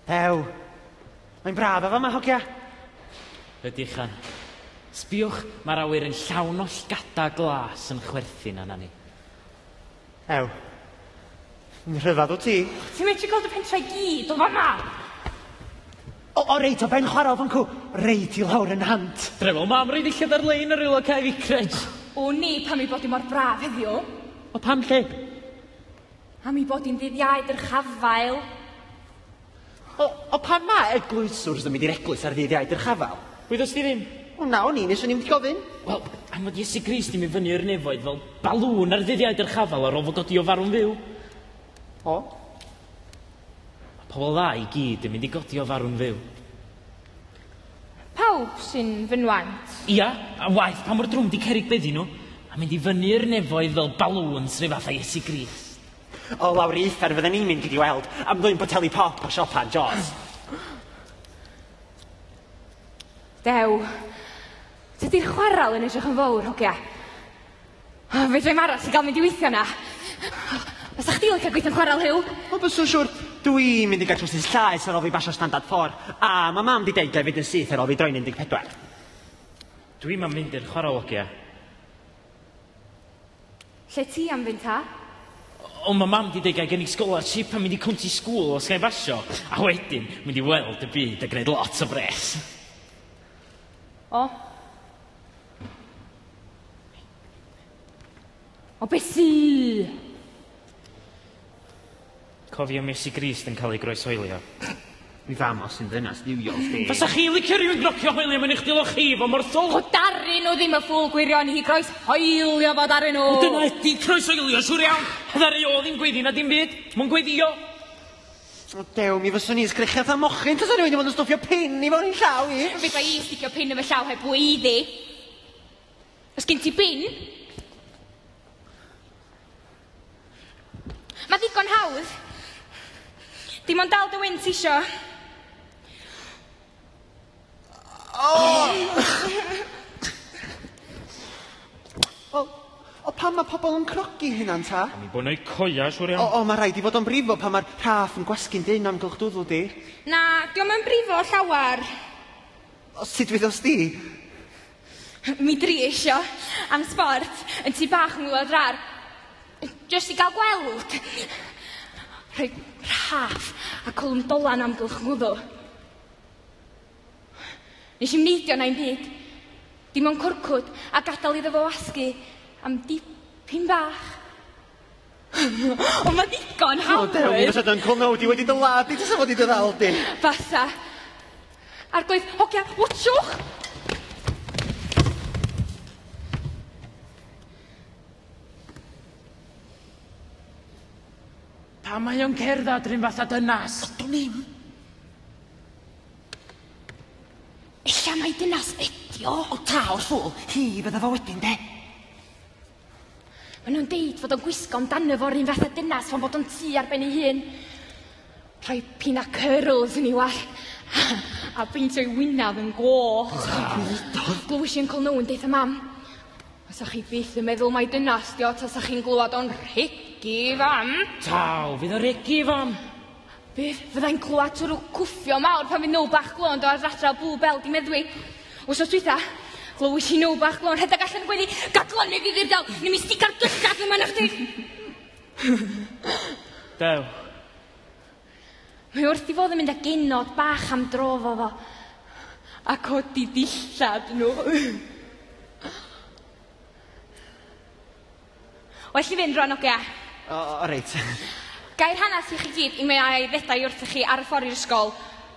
Ew. Mae'n braf efo yma, hogia. Ydy chan. Sbiwch, mae'r awyr yn llawn o llgada glas yn chwerthin yna ni. Ew. Yn rhyfedd o ti. Ti'n medru gweld y pentrau gyd o fanna? O, o reit, o ben chwarae o fancw. Reit i lawr yn hant. Drefol mam, rhaid i lled ar-lein yr aelod cael ei cryd. O ni, pam ei bod i mor braf heddiw? O pam lle? Am ei bod hi'n ddydd Iau dyrchafael. O, o pam mae eglwyswrs yn mynd i'r eglwys ar ddydd Iau dyrchafael? Wyddost ti ddim? O na, o'n i, nes o'n i'n mynd i gofyn. Wel, am fod Iesu Grist yn mynd fyny i'r nefoedd fel balŵn ar ddydd Iau dyrchafael ar ôl fo godi o farw'n fyw. O? Mae pobl dda i gyd yn mynd i godi o farw'n fyw. Pawb sy'n fy nwaent. Ia, a waeth pa mor drwm 'di cerrig beddi nhw, a mynd i fyny i'r nefoedd fel balŵns rhyw fath a Iesu Grist. O lawr i uffern fydden ni'n mynd iddi weld am ddwyn boteli pop o siopa Jaws. Dew, tydi'r chwarel yn edrych yn fowr, hogia. O, fedra i'm aros i gael mynd i weithio na. Fysa chdi licio gweithio'n chwarel Huw? O, byswn siwr. Dwi mynd i gael trwsys llaes ar ôl fi basio standard 4, a mae mam di deud gael fynd yn syth ar ôl fi droi'n 14. Dwi mam mynd i'r chwarel ogia. Lle ti am fynd ta? O, mae mam di deud gael gen i scholarship a mynd i cwnti sgŵl os gael basio, a wedyn mynd i weld y byd a gwneud lot o bres. O, O beth sy? Cofio mes i Grist yn cael ei groesoelio. Mi fam os yn ddynas ddiwiol chdi. Fysa chi licio rhywun grocio hoelio mewn eich dilo chi, fo mor ffwl? O darri nhw ddim y ffwl gwirion i groes hoelio fod arnyn nhw. O dyna ydi croes hoelio, siwr iawn. Ddaru o ddim gweddi na dim byd. Mw'n gweddio. O dew, mi fyswn i sgrechian fatha mochyn tasa rhywun i fod yn stwffio pin i fo'n i'n llaw i. Fydda i'n sticio pin yn fy llaw heb fwy iddi. Os gen ti bin? Mae ddigon hawdd. Dim ond dal dy wyn ti isio. Wel, o pam mae pobl yn crogi hynna'n ta? Am bod yn eu coeau, siŵr iawn. O, o, mae rhaid i fod o'n brifo pan mae'r rhaff yn gwasgu'n dynn amgylch dwddw di. Na, diom yn brifo llawer. O, sut dwyddos di? Mi drieisio, am sbort, yn tu bach yng ngwlad rar. Jyst i gael gweld. Rhoi rhaff a cwlwm dolan amgylch ngwddw. Nes i'm neidio na un byd. Dim ond cwrcwd a gadael iddo fo wasgu am dipyn bach. Ond mae ddigon hawdd! O, dew, mi fysa dyn cwnnw, di wedi dy ladd, di tasa fod i dy ddal di. Fasa. Arglwydd, hogia, watchwch! Pam mae o'n cerdded rhyn fatha dynas? Ydw ddim. Ella mai dynas ydi o. O taw'r ffwl, hi fydda fo wedyn de. Mae nhw'n deud fod o'n gwisgo amdano fo rhyn fatha dynas fo'n bod o'n tu ar ben ei hun. Rhoi pin a curls yn ei wallt a peintio'i wynaf yn goch. Gwydodd. Glywys i Uncle Noah yn deutha mam. Fasa chi byth yn meddwl mai dynas di o tasa chi'n glywed o'n rhegi i fam. Taw, fydd o'n rhegi i fam? Bydd, fyddai'n clywed twrw cwffio mawr pan fydd now bach glon do ar adra bw bel di meddwi. Wsos dwytha, glywys i now bach glon rhedeg allan y gweddi, gadlon neu ddifyr daw, neu mi stigar gyllad yma na chdi. Dew, Mae wrth i fod yn mynd â genod bach am dro fo fo. A codi dillad nhw. Well i fynd rwan, ogia. O, o reit. Gai'r hanes i chi gyd i mae ai ddedau wrthych chi ar y ffordd i'r ysgol.